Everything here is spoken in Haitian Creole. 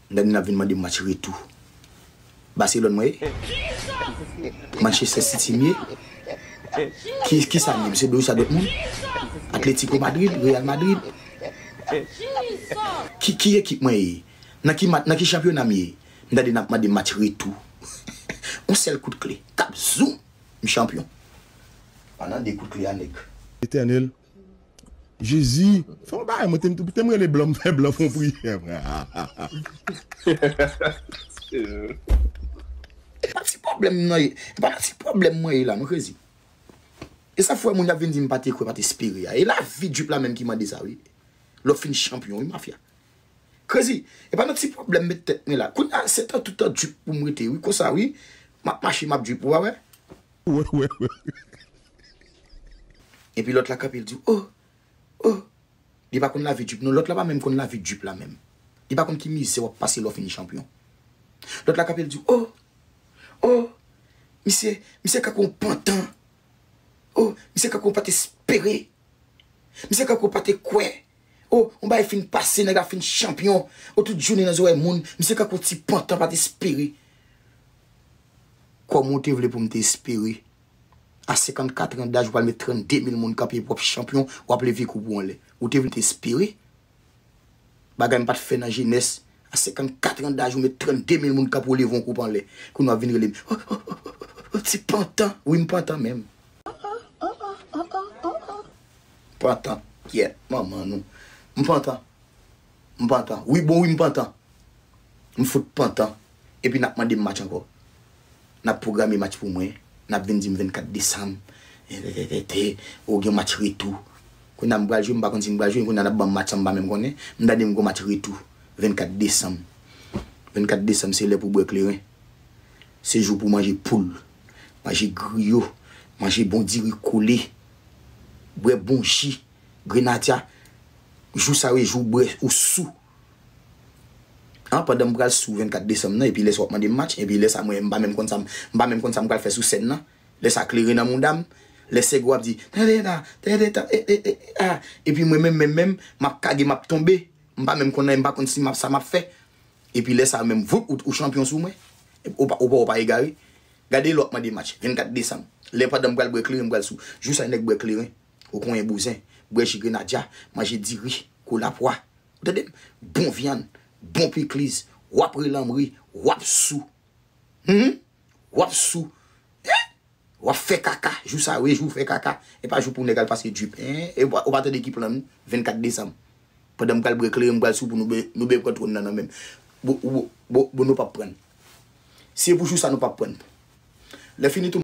Dani nap vin mande match retou Barcelone mwen ye? Manchester city m ye? Kisam ye m se Borussia Dortmund? Atletico Madrid? Real Madrid? Ki ekip mwen ye? Nan ki nan ki chanpyona m ye? M tande nap mande match retou On sèl kout kle kap zoom m chanpyon Pandan 2 kout kle a nèg. Etènèl Jezi fè yon bagay mwen te m te m rele blan m fè blan fon priyè mwen E pa ti pwoblèm m nan ye e pa ti pwoblèm mwen ye la non Jezi E sa fwe moun ap vin di m pa te kwè pa te espere a e lavi drip la menm ki mande sa wi Lè w fin chanpyon wi mafya Jezi e pa nan ti pwoblèm m met tèt mwen la Kounya se tantou tan drip pou m rete wi konsa wi M ap mache m ap drip ou pa wè. Epi lòt la kanpe li di oh oh li pa konn lavi drip non lòt la pa menm konn lavi drip la menm li pa konn ki mizè wap pase lè w fin chanpyon lòt la kanpe li di oh oh misye misye kanpe yon pantan oh misye kanpe yon pa t espere misye kanpe yon pa te kwè. Oh yon bagay fin pase nèg la fin chanpyon oh tout jounen nan zorèy moun misye kankou yon ti pantan pat espere Kòman w te vle pou m te espere a 54 an daj ou pral met 32 mil moun kanpe epi w ap chanpyon w ap leve koup ou anlè ou te vle m te espere bagay m pat fè nan jenès a 54 an daj ou met 32 mil moun kanpe w leve yon koup anlè kounye w ap vin rele m oh oh oh oh ti pantan wi m pantan menm. Pantan kyèt manman nou. M pantan. M pantan. Wi bon wi m pantan. M fout pantan. Epi nap mande m match ankò. Nap pwograme match pou mwen. Nap vin di m 24 desanm. Rètètètè. O gen match retou. Kounye a m pral jwe m pa konn si m pral jwe. Kounye a nap banm match sa m pa menm konnen. M tande m gon match retou. 24 desanm. 24 desanm se lè pou bwè kleren. Se jou pou manje poul. Manje griyo. Manje bon diri kole. bwè bon ji grenadya jou sa yo e jou w bwè ou sou an pandan m pral sou 24 desanm nan epi lè sa w ap mande m match epi lè sa mwen m pa menm konn sa m m pa menm konn sa m pral fè sou sèn nan lè sa klere nan mouda m lè sèg ou ap di tande la tande tan e e e a epi mwen menm menm menm m ap kage m ap tonbe m pa menm konn anyen m pa konn si m ap sa m ap fè epi lè sa menm voup ou ou chanpyon sou mwen ou pa ou pa ou pa egare. Gade lè wap mande match 24 desanm lè pandanm pral bwè kleren mpral sou jou sa nèg bwè kleren ou konyen bouzen bwè ji grenadya manje diri kou lapwa ou tandem bon vyann bon pikliz wap ri lanm ri wap sou humm wap sou hein wap fè kaka jou sa wi jou fè kaka epa jou pou nèg al pase drip hein ou pa tande ki plan nou 24 desanm. Pandan m pral bwè kleren m pral sou pou nou ben pran twòn nan nan menm bon bon bon nou pap prann se pou jou sa nou pap prann lè fini tou.